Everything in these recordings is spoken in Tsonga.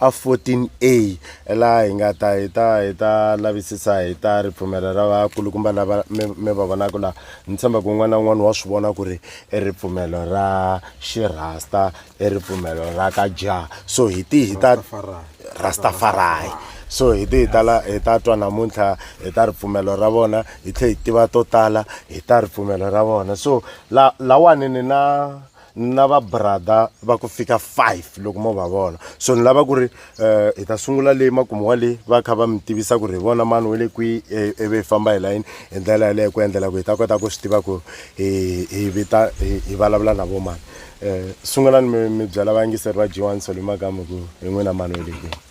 A 14a laha hi nga ta hi ta hi ta lavisisa hi ta ripfumelo ra vakulukumba lava mi mi va vonaka laha ni tshemba ku un'wana na un'wana wa swi vona ku ri i ripfumelo ra xirhasta i ripfumelo ra ka jah so hi ti hi ta rastafarai so hi ti hi tala hi ta twa namuntlha hi ta ripfumelo ra vona hi tlhela hi tiva to tala hi ta ripfumelo ra vona so la lawani ni na ni na va brother va ku fika five loko mo va vona so ni lava ku ri um hi ta sungula leyi makumu wa leyi va kha va mi tivisa ku ri hi vona mani we le kwihi eh, ivi hi famba hi layini hi ndlela yaleyo ku endlela ku hi ta kota ku swi tiva ku hi vita hi vulavula na vo mani um sungulani mi mi byela vayingiseri va g one soli makamu ku hi n'wina mani we le kwihi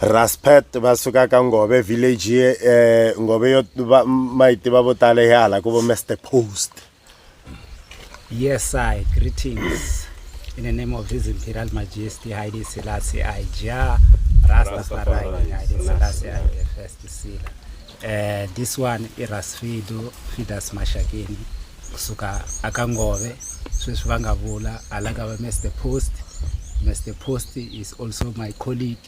raspet va suka ka ngove village eh, ngove yo va- ma yi tiva vo tala hi hala ku vo mr post Yes, I greetings in the name of His Imperial Majesty Haile Selassie I Jah Rastafari Haile Selassie I the first Sila. Uh, this one is Rasfido Fidas Mashakini. kusuka aka ngove sweswi va nga vula hala ka va mr post mr post is also my colleague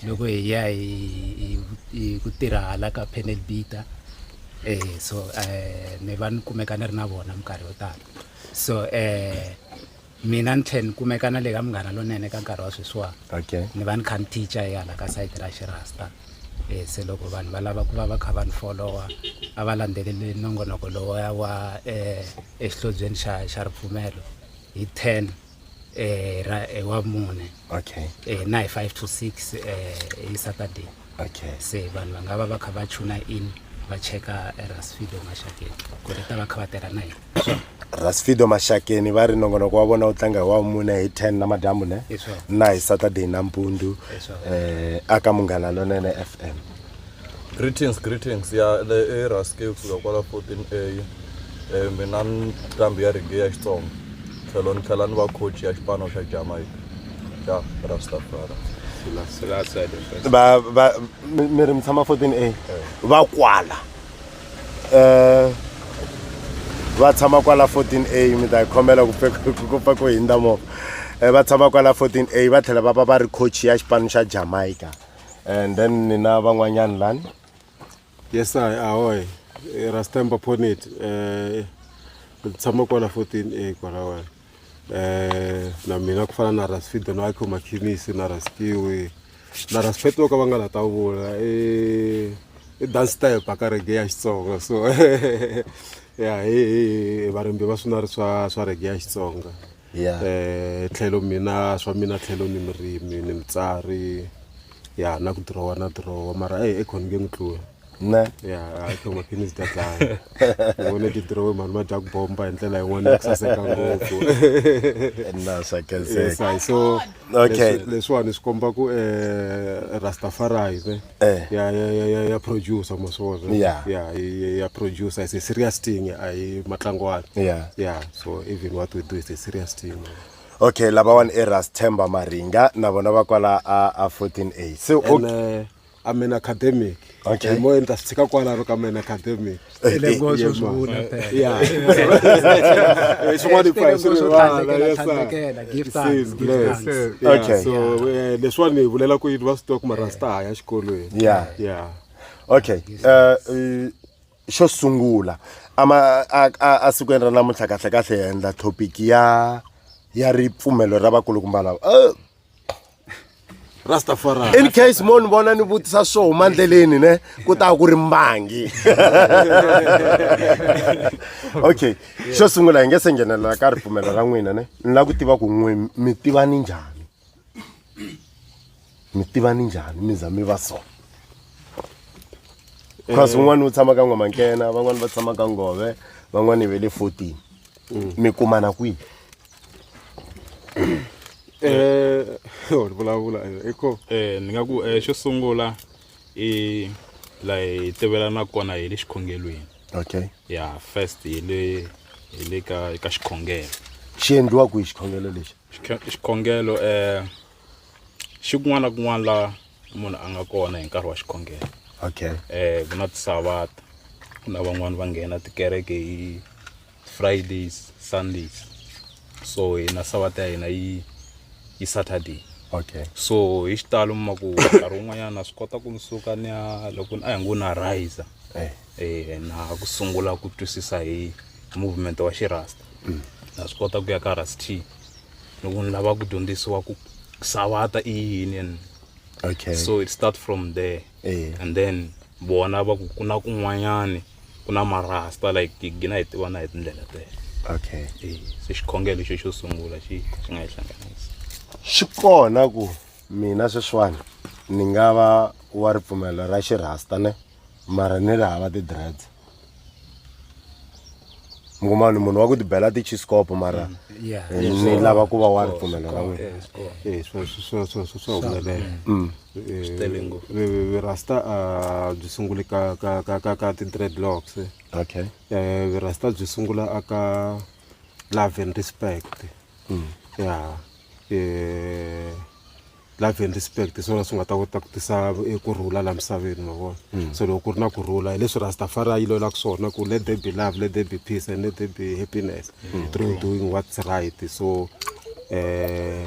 loko hi ya hi ku tirha hala ka panel bita eh so eh ni va ni kumeka ni ri na vona minkarhi yo tala so eh Mina ni tlhela ni kumeka na le ka Munghana Lonene ka nkarhi wa sweswiwani Okay. ni va ni kha ni teacher hi hala ka sayiti ra xirasta um se loko vanhu va lava ku va va kha va ni folowa a va landzeleli nongonoko lowa wa um exihlobyeni xa xa ripfumelo hi ten um ra eh, wa mune Okay. um na hi five to six um hi saturday okay se vanhu va nga va va kha va tuna in va cheka rasfido mashakeni ku ri ta va kha va tirha na yini rasfido mashakeni va ri nongonoko wa vona wu tlanga hi wa mune hi 10 na madyambu ne na hi saturday nampundu um eh, aka munghana lonene f m greetings greetings ya le eraske kusuka kwala 14 a Eh, mina nqambi ya rege ya xitsonga tlhelo ni tlhela ni va coach ya xipano xa jamaica Ja, Rastafari. Selassie the first. ba ba mi mi ri mi tshama 14a va kwala um va tshama kwala 14a mi ta khomela ku pfe- ku- ku pfa ku hindza movha um va tshama kwala 14a va tlhela va va va ri coach ya xipano xa jamaica and then ni na van'wanyani lani Yes, I ahoy. Rastemba Ponit. Eh, tshama kwala 14 eh kwala wena. eh, na mina ku fana na rasfido na iko makhinisi na rastiwi na raspet vo ka va nga la ta vula i i dance type a ka rege ya xitsonga so ya hi varimbi va swinari swa swa rege ya xitsonga Yeah. eh tlhelo mina swa mina tlhelo ni murimi ni mutsari ya na ku dirowa na dirowa mara e ekhonge ni tlula ne ya hayi to maphilisi ta dlaya ni vone ti dirowe mhani ma dya ku bomba hi ndlela yin'wana ya ku saseka ngopfu na swa Yes, hayi, so Okay. leswi- leswiwani swi komba ku um rastafari ne Eh. ya- ya- ya- ya- ya producer maswona Yeah. ya yi- ya producer is a serious thing a yi matlangwana Yeah. yeah so even what we do is a serious thing okay lavawani i ras themba maringa na vona va kwala a a 14 a se o- and uh, a main academic Okay. hi moya ni ta swi tshika kwalano ka main academic Ile ngo swo swi vula phela. Yeah. Eh, swin'wana ku a hi swi Swo rivala, tlhandlekela, yes, sir. tlhandlekela, give It thanks, says give blessed. thanks. Yeah, Okay. so eh, leswiwani hi vulela ku yini va swi tiva ku marasta haya xikolweni Yeah. yeah okay uh, uh, xo sungula ama a- a- a sikwini ra namuntlha kahlekahle hi endla topic ya ya ripfumelo ra vakulukumba lava Eh, rastafari in case mo ni vona ni vutisa swo huma ndleleni ne ku ta ku ri mbangi okay xo sungula hi nge se nghenelela ka ripfumelo ra n'wina ne ni lava ku tiva ku n'we mi tiva ni njhani mi tiva ni njhani mi za mi va so cause eh. un'wana u tshama ka n'wamankena van'wani va tshama ka ngove van'wani ve le fourteen mm. mi kumana kwihi eh oh vulavula i ko eh ni nga ku eh xo sungula i la hi tivelana kona hi le xikhongelweni okay ya first hi le hi le ka ka xikhongelo xi endliwa ku hi xikhongelo lexi Xikhe- xikhongelo eh xi kun'wana na kun'wana la munhu a nga kona hi nkarhi wa xikhongelo okay eh ku na tisavata ku na van'wani va nghena tikereke hi fridays sundays so hina savata ya hina yi yi saturday okay so hi xitalo mi ma ku nkarhi wun'wanyana na swi kota ku ni suka ni ya loko ni- a hi ngo na riser eh eh na ku sungula ku twisisa hi movement wa xirasta na swi kota ku ya ka rast loko ni lava ku dyondzisiwa ku savata i yini and okay so it start from there eh and then vona va ku ku na kun'wanyani ku na marasta like tigina hi tivana hi tindlela tele okay eh, se xikhongelo xo xo sungula xi xi nga yi hlanganisa swi kona ku mina sweswiwani ni nga va wa ripfumelo ra xirhasta ne mara ni ri hava ti-dreads mi kuma ni munhu wa ku tibela tichiscopo mara mm, eh, ni lava ku va wa ripfumelo ra n'wina eh, eh, swa humelela mm. eh, Swi tele ngopfu. vi- vi- virasta a byi sunguli ka ka ka ka ka ti-dreadlocks eh. okay Eh, virasta byi sungula aka love and respect ya eh, love and respect hi swona swi nga ta kota ku tisa eh, ku rhula la misaveni ma vona so loko ku ri na ku rhula hi leswi rastafari a yi lwelaka swona ku let there be love let there be peace and let there be happiness through doing what's right so eh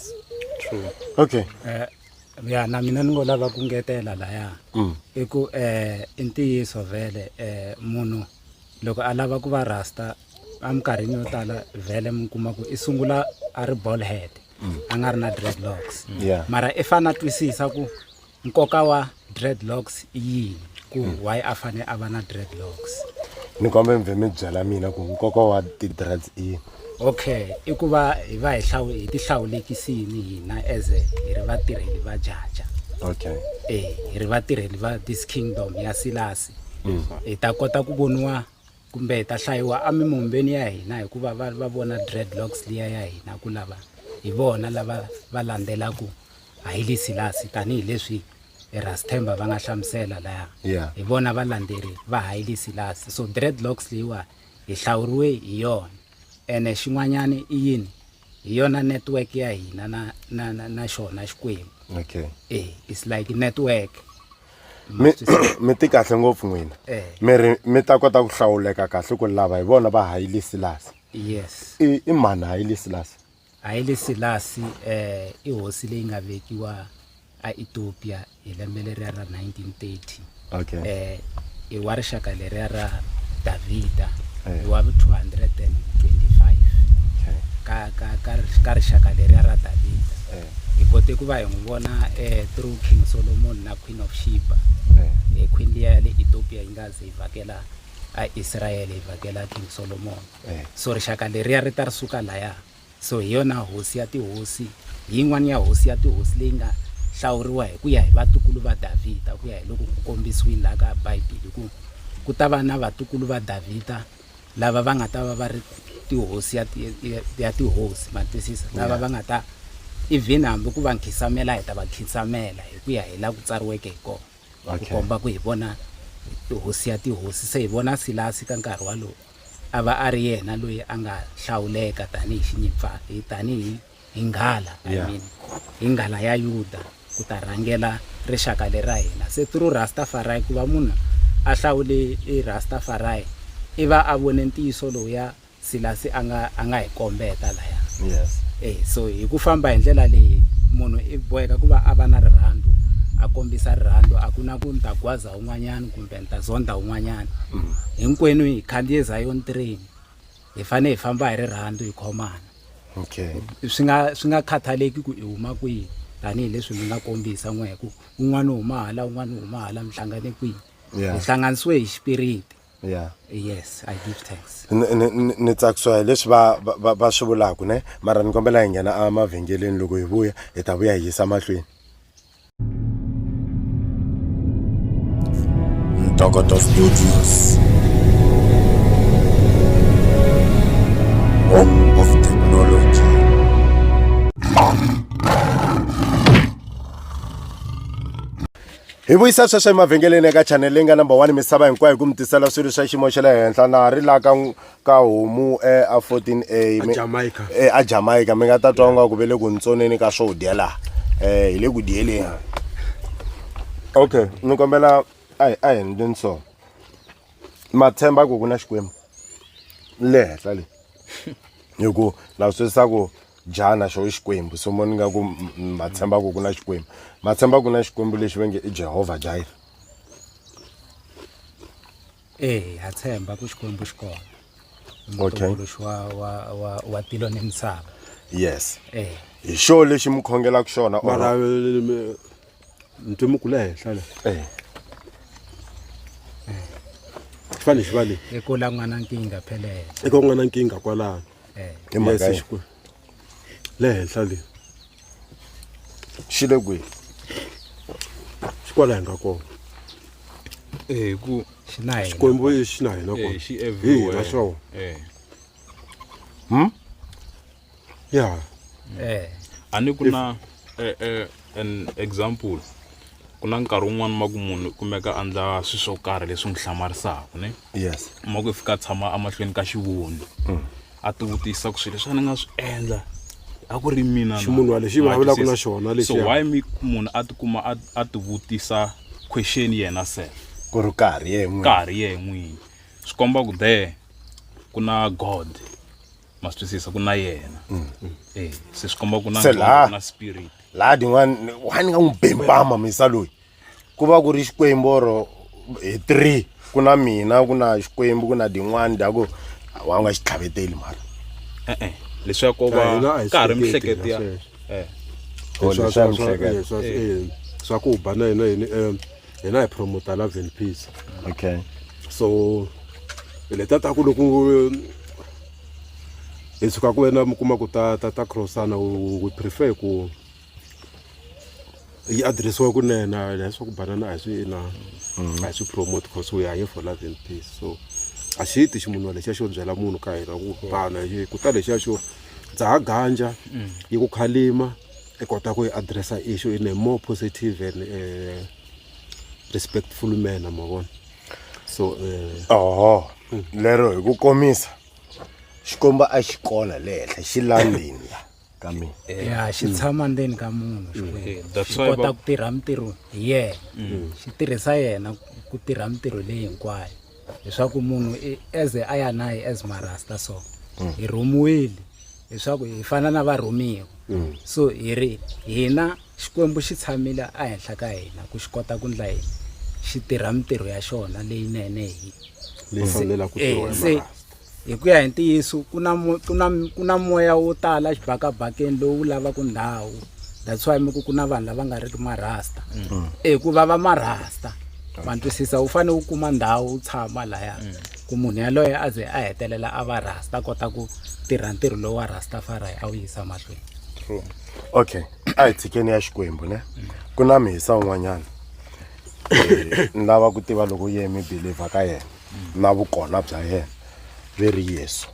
true okay eh ya na mina ni ngo lava ku ngetela laya mm. i ku eh i ntiyiso vhele eh munhu loko a lava ku va rasta eminkarhini yo tala vhele mi kuma ku i sungula a ri ball head mm. a nga ri na dreadlocks mm. mara i fane a twisisa ku nkoka wa dreadlocks i yini ku hmm. why a fane a va na dreadlocks ni kombe mi vhe mi byela mina ku nkoka wa ti-dreads i yini okay i ku va hi va hi hi ti hlawulekisini hina as hi ri vatirheli va jaja okay e hi ri vatirheli va this kingdom ya silasi hmm. hi ta kota ku voniwa kumbe hi ta hlayiwa emimombeni ya hina hikuva va va vona dreadlocks liya ya hina ku lava hi vona lava va landzelaku Hailey Selassie, tanihi leswi Erasthemba va nga hlamusela laya, Yeah. hi vona valandzeri va Hailey Selassie. So dreadlocks leyiwa hi hlawuriwe hi yona. Ene xin'wanyana i yini? Hi yona network ya hina na, na, na, na xona Xikwembu. Okay. Eh, it's like network. Ma Mi swi twisisa? mi ti kahle ngopfu n'wina. Eh. Mi ri mi ta kota ku hlawuleka kahle ku lava hi vona va Hailey Selassie. Yes. I i mani Hailey Selassie? Haile Selassie i hosi leyi nga vekiwa aEthiopia hi lembe leriya ra 1930 okay. um i wa rixaka leriya ra Davhida eh. i wa 225 okay. ka, ka, ka, ka rixaka leriya ra Davhida eh. hi kote ku va hi n'wi vona um through King Solomon na Queen of Sheba um queen liya ya le Ethiopia yi nga ze yi vhakela aIsrayele yi vhakela King Solomon So rixaka leriya ri ta ri suka laya. So hi yona hosi ya tihosi, hi yin'wana ya hosi ya tihosi leyi nga hlawuriwa hi ku ya hi vatukulu va Davhida, ku ya hi loko ku kombisiwile laha ka Bibele ku ku ta va na vatukulu va Davhida lava va nga ta va va ri tihosi ya ya tihosi ma twisisa lava va nga ta even hambi ku va nkhinsamela hi ta va khinsamela hi ku ya hi laha ku tsariweke hi kona. ku Okay. komba ku hi vona tihosi ya tihosi se hi vona silasi ka nkarhi walowu a va a ri yena loyi a nga hlawuleka tanihi xinyimpfa hi tanihi hi nghala I Yeah. mean, hi nghala ya yuda ku ta rhangela rixaka lera hina se through rastafari ku va munhu a hlawule i rastafari i va a vone ntiyiso lowuya Silasi a nga a nga hi kombeta laya yes eh so hi ku famba hi ndlela leyi munhu i boheka ku va a va na rirhandzu a kombisa rirhandzu a ku na ku ni ta gwaza un'wanyana kumbe ni ta zonda un'wanyana mm. hinkwenu hi khandziye zion train hi fanele hi famba hi rirhandzu hi khomana okay swi nga swi nga khathaleki ku i huma kwihi tanihileswi mi nga kombisa n'we hi ku un'wana u huma hala un'wana u huma hala mi hlangane kwihi hi hlanganisiwe hi xipiriti ya yes i give thanks Ni- ni- ni ni tsakisiwa hi leswi va va- va va swi vulaka ne mara ni kombela hi nghena emavhengeleni loko hi vuya hi ta vuya hi yisa mahlweni Ntokoto Studios. Home of technology. hi vuyisa sweswo emavhengeleni eka chanele leyi nga number one misava hinkwayo hi ku mi tisela swilo swa xiyimo xa le henhla na ha ri la ka ka homu e a 14 a mi- Jamaica. e, a jamaica mi nga ta twa nga ku ve le ku ntsoneni ka swo dya laha um hi le ku dyeleni okay ni kombela a hi a hi ndleni so matshemba ku ku na xikwembu le henhla le hi ku na swi twisisa ku njhana xo xikwembu so mo ni nga ku ma tshemba ku ku na xikwembu ma tshemba ku na xikwembu lexi va nge i jehovha jaire eya ha tshemba ku xikwembu xi kona mutumbuluxi wa wa wa wa tilo ni misava yes eh hi xo lexi mi khongelaka xona mara ntimuku le henhla le eh fane xi va le i ku la n'wana nkinga phelele i ku n'wana nkinga kwalano hi mhaka Yes, yini? Xikwembu. le henhla le xi le kwihi xi kwala hi nga kona Eh, ku xi na hina. xikwembu i xi na hina Eh, kona xi hi hina everywhere. swona Eh. ya Eh. a ni ku na eh, eh, an example ku na nkarhi wun'wani ma ku munhu u kumeka a ndla swi swo karhi leswi n'wi hlamarisaka ne yes ma ku i fika a tshama emahlweni ka xivundzi mm. a ti vutisa ku swilo leswi a ni nga swi endla a ku ri mina ximunhu wa lexi vulavulaka na xona lexi so why mi munhu a tikuma a ti vutisa question yena se ku ri karhi ye n'wini karhi ye n'wini swi komba ku there ku na god ma swi twisisa ku na yena Eh, se swi komba ku na Se nqondo, laha- ku na spirit laha din'wana wa ni nga n'wi bempama misa loyi ku va ku ri xikwembu oro hi three ku na mina ku na xikwembu ku na din'wana dya ku wa nga xi tlhaveteli mara e-e leswaku ko va Hina a hi ka ha ri swi hleketi mihleketi ya hina sweswo. Eh, Swa- swa- swa- eh, swa- eh, swa ku ba na hina yini um hina hi promoter love and peace okay so leta ta ku loko hi tshuka ku wena mi kuma ku ta ta ta crossana we prefer ku yi addressiwa kunena leswaku banana a hi swi na mm-hmm. a hi swi promote because we are here for love and peace so a xi ti xi munhu lexiya xo byela munhu ka hina ku bana ku ta lexiya xo dzaha ganja mm. yi ku khalima i kota ku yi addressa issue in a more positive and uh, respectful manner ma vona so uh, oho lero hi ku komisa xikomba a xi kona le henhla xi landini la ka mina ya xi tshama ndzeni ka munhu xikwembu that's xi why kota va- ku tirha mintirho hi yena xi tirhisa yena ku tirha mintirho leyi hinkwayo leswaku munhu eze a ya naye as marasta so mm. hi rhumiwile leswaku hi fana na varhumiwa mm. so hi ri hina xikwembu xi tshamile ehenhla ka hina ku xi kota ku ndla yini xi tirha mintirho ya xona leyinene hi Hi ku ya hi ntiyiso ku na ku na ku na moya wo tala xibakabakeni lowu lavaka ndhawu that's why mi ku ku na vanhu lava nga ri ki marasta mm. e ku va va marasta ma twisisa u fanele u kuma ndhawu u tshama laya mm. ku munhu yaloye a ze a hetelela a va rasta kota ku tirha ntirho lowu wa rastafari a wu yisa mahlweni okay a hi tshikeni ya xikwembu ne mm. ku na mihisa un'wanyana ni lava ku tiva loko yemi believer ka yena na vukona bya yena ve ri yesu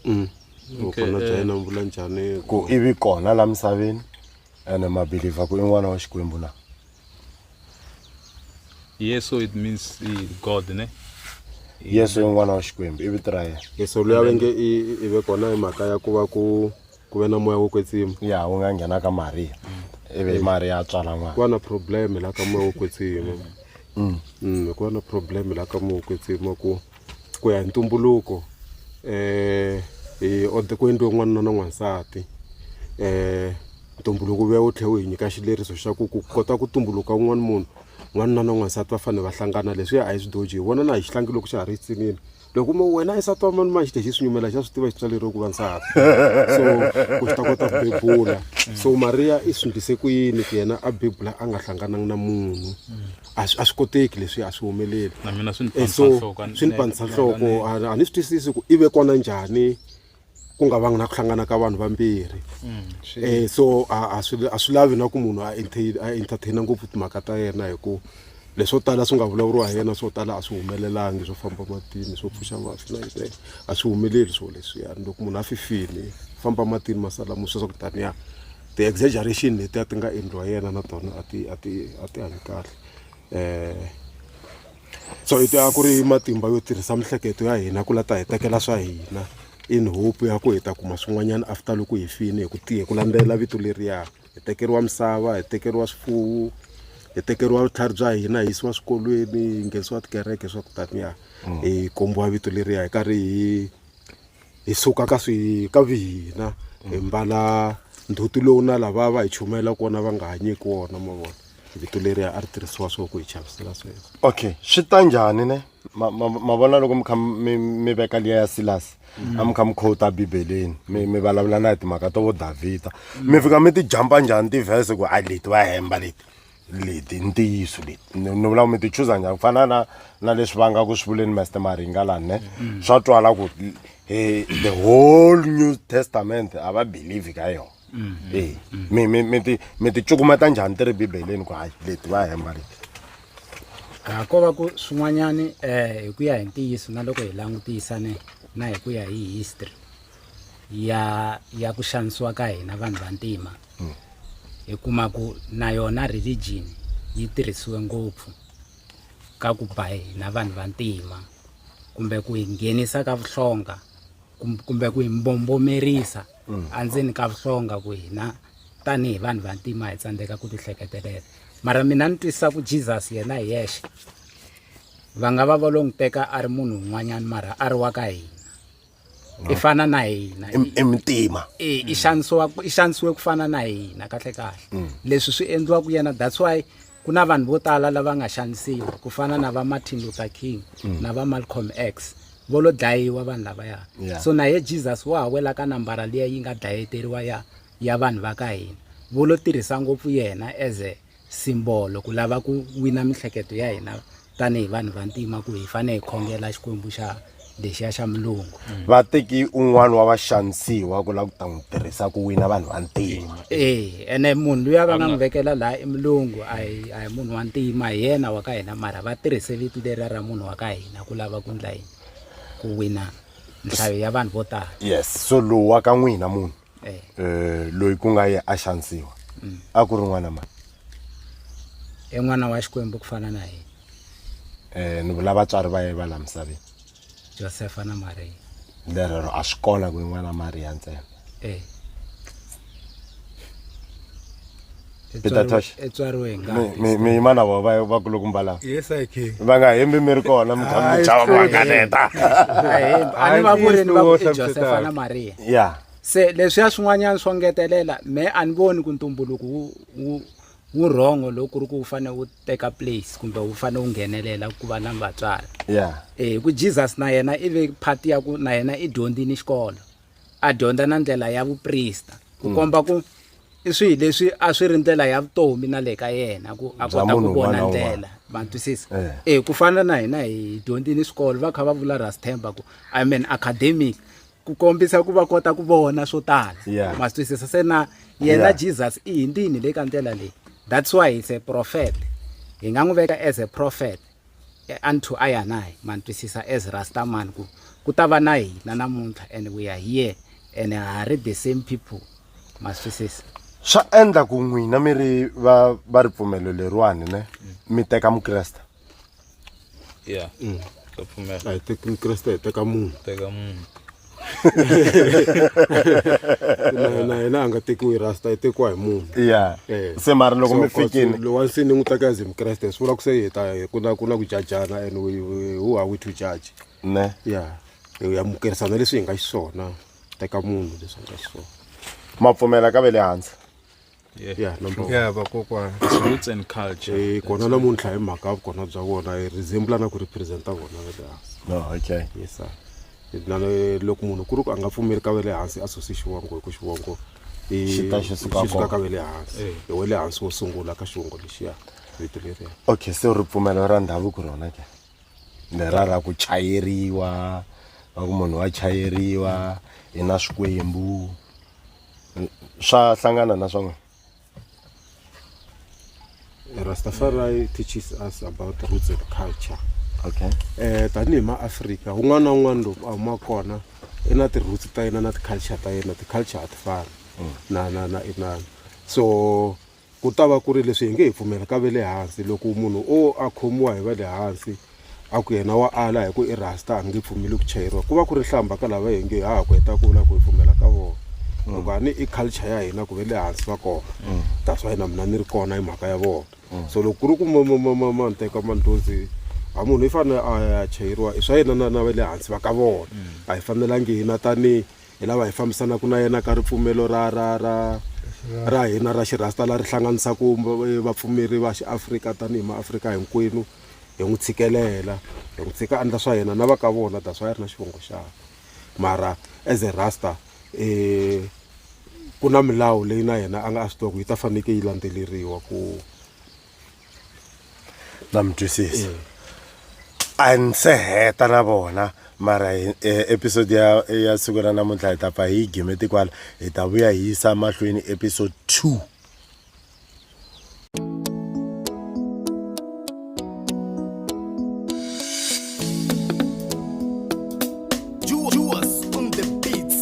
mm. vukona bya yena mi vula njhani ku i vi kona la misaveni ene mabiliva ku i n'wana wa xikwembu na yesu it means god ne yesu i n'wana wa xikwembu i vito ra yena yesu luya ve nge i ve kona hi mhaka ya ku va ku ku ve na moya wo kwetsima ya wu nga nghena ka mariya ivi mariya a tswala n'wana ku va na problem la ka moya wo kwetsima mm. mm, ku va na problem la ka moya wo kwetsima ku ku ya hi ntumbuluko um ku endliwe n'wanuna na n'wansati um ntumbuluko vuya wu tlhe wu hi nyika xileriso xa ku ku kota ku tumbuluka un'wana munhu n'wanuna na n'wansati va fanele va hlangana leswi ya a hi swidoji hi vona na hi xihlangi loko xa ha ri yitsinini loko mo wena i nsati wa mani mani xi te xi swi nyumela xa swi tiva xi tswaleriwe ku va nsati so ku xi ta kota ku bebula so mariya i swi ndlise ku yini ku yena a bebula a nga hlangananga na munhu a swi a swi koteki leswi a swi humeleli na mina swi ni Eh, so panisa nhloko a ni- swi ni panisa nhloko a a ni swi twisisi ku i ve kona njhani ku nga vangi na ku hlangana ka vanhu vambirhi um so a swi lavi na ku munhu a entertaina ngopfu timhaka ta yena hi ku leswo tala swi nga vulavuriwa hi yena swo tala a swi humelelangi swo famba matini swo pfuxa mafi na yinene a swi humeleli swo leswiyani loko munhu a fifile famba matini masala mo sweswa ku taniya ti-exaggeration letiya ti nga endliwa yena na tona a ti a ti a ti hanyi kahle um so i a ku ri matimba yo tirhisa miehleketo ya hina ku la ta hi tekela swa hina in hope ya ku hi ta kuma swin'wanyana after loko hi fini hi ku tiye ku landzelela vito leriya hi tekeriwa misava hi tekeriwa swifuwo hi tekeriwa vutlhari bya hina hi yisiwa swikolweni hi nghenisiwa tikereke swa ku taniya hi kombiwa vito leriya hi karhi hi hi suka ka swi ka vihina hi mbala ndzhuti lowu na lava va hi chumayela kona va nga hanyeki wona ma vona vito leriya a ri tirhisiwa swo ku hi chavisela sweswo okay swi ta njhani ne ma vona loko mi kha mi veka liya ya silasi a mi kha mi khota bibeleni mi mi vulavula na hi timhaka to vo davhida mi fika mi ti jampa njhani tivhese ku a leti va hemba leti leti i ntiyiso leti ni ni vula ku mi ti chuza njhani ku fana na na leswi va nga ku swi vuleni master maringa lani ne mm. swa twala ku eh, the whole new testament a va believe ka yona mm. e mm. mi mi mi ti mi ti cukumeta njhani ti ri bibeleni ku hayi leti va hemba leti a ko va ku swin'wanyani um hi ku ya hi ntiyiso na loko hi langutisa ne na hi ku ya hi history ya ya ku xanisiwa ka hina vanhu vantima mm. hi kuma ku na yona religion yi tirhisiwe ngopfu ka ku ba hina vanhu vantima kumbe ku hi nghenisa ka vuhlonga kumbe ku hi mbombomerisa mm. endzeni ka vuhlonga ku hina tanihi vanhu vantima hi tsandzeka ku tihleketelela mara mina ni twisisa ku jesus yena hi yexe va nga va va lo n'wi teka a ri munhu un'wanyana mara a ri wa ka hina i mm. fana na hina i mitima e i xanisiwa i xanisiwe ku fana na hina kahle kahle mm. leswi swi endliwa ku yena that's why ku na vanhu vo tala lava nga xanisiwa ku fana na va Martin Luther King mm. na va Malcolm X vo lo dlayiwa vanhu lavaya so na ye Jesus wa ha wela ka nambara leyi yi nga dlayeteriwa ya ya vanhu va ka hina vo lo tirhisa ngopfu yena as a simbolo ku lava ku wina mihleketo ya hina tanihi vanhu va ntima ku hi fane hi khongela xikwembu xa lexiya xa mulungu mm. va teki un'wana wa vaxanisiwa ku lava ku ta n'wi tirhisa ku wina vanhu va ntima e ene munhu luya va nga n'wi vekela laha i mulungu a hi a hi munhu wa ntima hi yena wa ka hina mara va tirhise vito leriya ra munhu wa ka hina ku lava ku ndla yini ku wina nhlayo ya vanhu vo tala yes so lowu wa ka n'wina munhu eh. eh loyi ku nga ye a xanisiwa mm. a ku ri n'wana mani i n'wana wa xikwembu ku fana na yena eh ni vula vatswari va ye va la misaveni josefa na mariya lerero a swi kona ku i n'wana mariya ntsena eh Peter Tosh. etswariwe hi ngati Mi- mi- mi mana vona va- va kuluku mbala yes i can va nga hembi mi ri kona mi kha mi Hayi, chava sure. vanganeta a ni va vuri ni va ku Hayi, i Josefa Peter. na Maria ya se leswiya swin'wanyana swo ngetelela me a ni voni ku ntumbuluko wu wu wu wrong loko ku ri ku wu fanele wu teka place kumbe wu fanele wu nghenelela ku va na vatswari ya Eh, hi ku jesus na yena i ve part ya ku na yena i dyondzini xikolo a dyondza na ndlela ya vuprista ku komba ku i swihi leswi a swi ri ndlela ya vutomi na le ka yena ku a Bya kota ku munhu vona un'wana na ndlela un'wana. ma twisisa Eh. eh ku fana na hina hi dyondzini swikolo va kha va vula rastemba ku i mean academic ku kombisa ku va kota ku vona swo tala Yeah. ma swi twisisa se na yena Yeah. jesus i hindini le ka ndlela leyi that's why he's a prophet hi nga n'wi veka as a prophet Unto Aya na hi ma twisisa as Rasta man ku ku ta va na hina namuntlha and we are here and ha ha ri the same people ma swi twisisa. Swa endla ku n'wina mi ri va va ripfumelo leriwani ne mi teka Mukreste. Yeah. Ndza pfumela. A hi teki Mukreste hi teka munhu. Teka munhu. na na yena a nga tekiwi rasta i tekiwa hi munhu ya Eh. se mara loko mi fikini lowa nsi ni n'wi teka as mukreste swi vula ku se hi ta ku na ku na ku jajana and we- we- who are we to judge ne ya hi ya mukerisana leswi hi nga xiswona teka munhu leswi a nga xiswona ma pfumela ka ve le hansi Yeah. ya number one ya vakokwana It's roots and culture. Eh, kona namuntlha hi mhaka ya vukona bya vona hi resemble na ku representa vona va le hansi no okay yes sir na le- loko munhu ku ri ku a nga pfumeli ka va le hansi a susi xivongo hi ku xivongo i- Xi ta xi suka xi suka kona. ka va le hansi Eh. hi wa le hansi wo sungula ka xivongo lexiya vito leriya okay se ripfumelo ra ndhavuko rona ke ni rara ku chayeriwa va ku munhu wa chayeriwa hi na swikwembu swa hlangana na swona Rastafari teaches us about roots and culture okay eh tanihi maafrika un'wana na un'wana loko a huma kona i na ti-roots ta yena na ti-culture ta yena ti-culture a ti fani na na na inana so Ku ta va ku ri leswi hi nge hi pfumela ka ve le hansi loko munhu o a khomiwa hi va le hansi a ku yena wa ala hi ku i rasta a ni nge pfumeli ku chayeriwa ku va ku ri hlamba ka lava hi nge ha ha ku heta ku vula ku hi pfumela ka vona loko a ni i culture ya hina ku ve le hansi va kona that's why na mina ni ri kona hi mhaka ya vona so loko ku ri ku ma ma ma ma ma nteka mandlozi a munhu i fanele a ya chayeriwa i swa yena na na ve le hansi va ka vona a hi fanelangi hina tanihi hi lava hi fambisanaka na yena ka ripfumelo ra ra ra ra hina ra xirhasta la ri hlanganisaka vapfumeri va xiafrika tanihi maafrika hinkwenu hi n'wi tshikelela hi n'wi tshika andla swa yena na va ka vona that's why a ri na xivongo xakwe mara as a rasta um ku na milawu leyi na yena a nga a swi tiva ku yi ta fanekele yi landzeleriwa ku na mi twisisa a ni se heta na vona mara hi- eh, episode ya ya siku ra namuntlha hi ta pfa hi yi game tikwala hi ta vuya hi yisa mahlweni episode 2 Juas on the beats.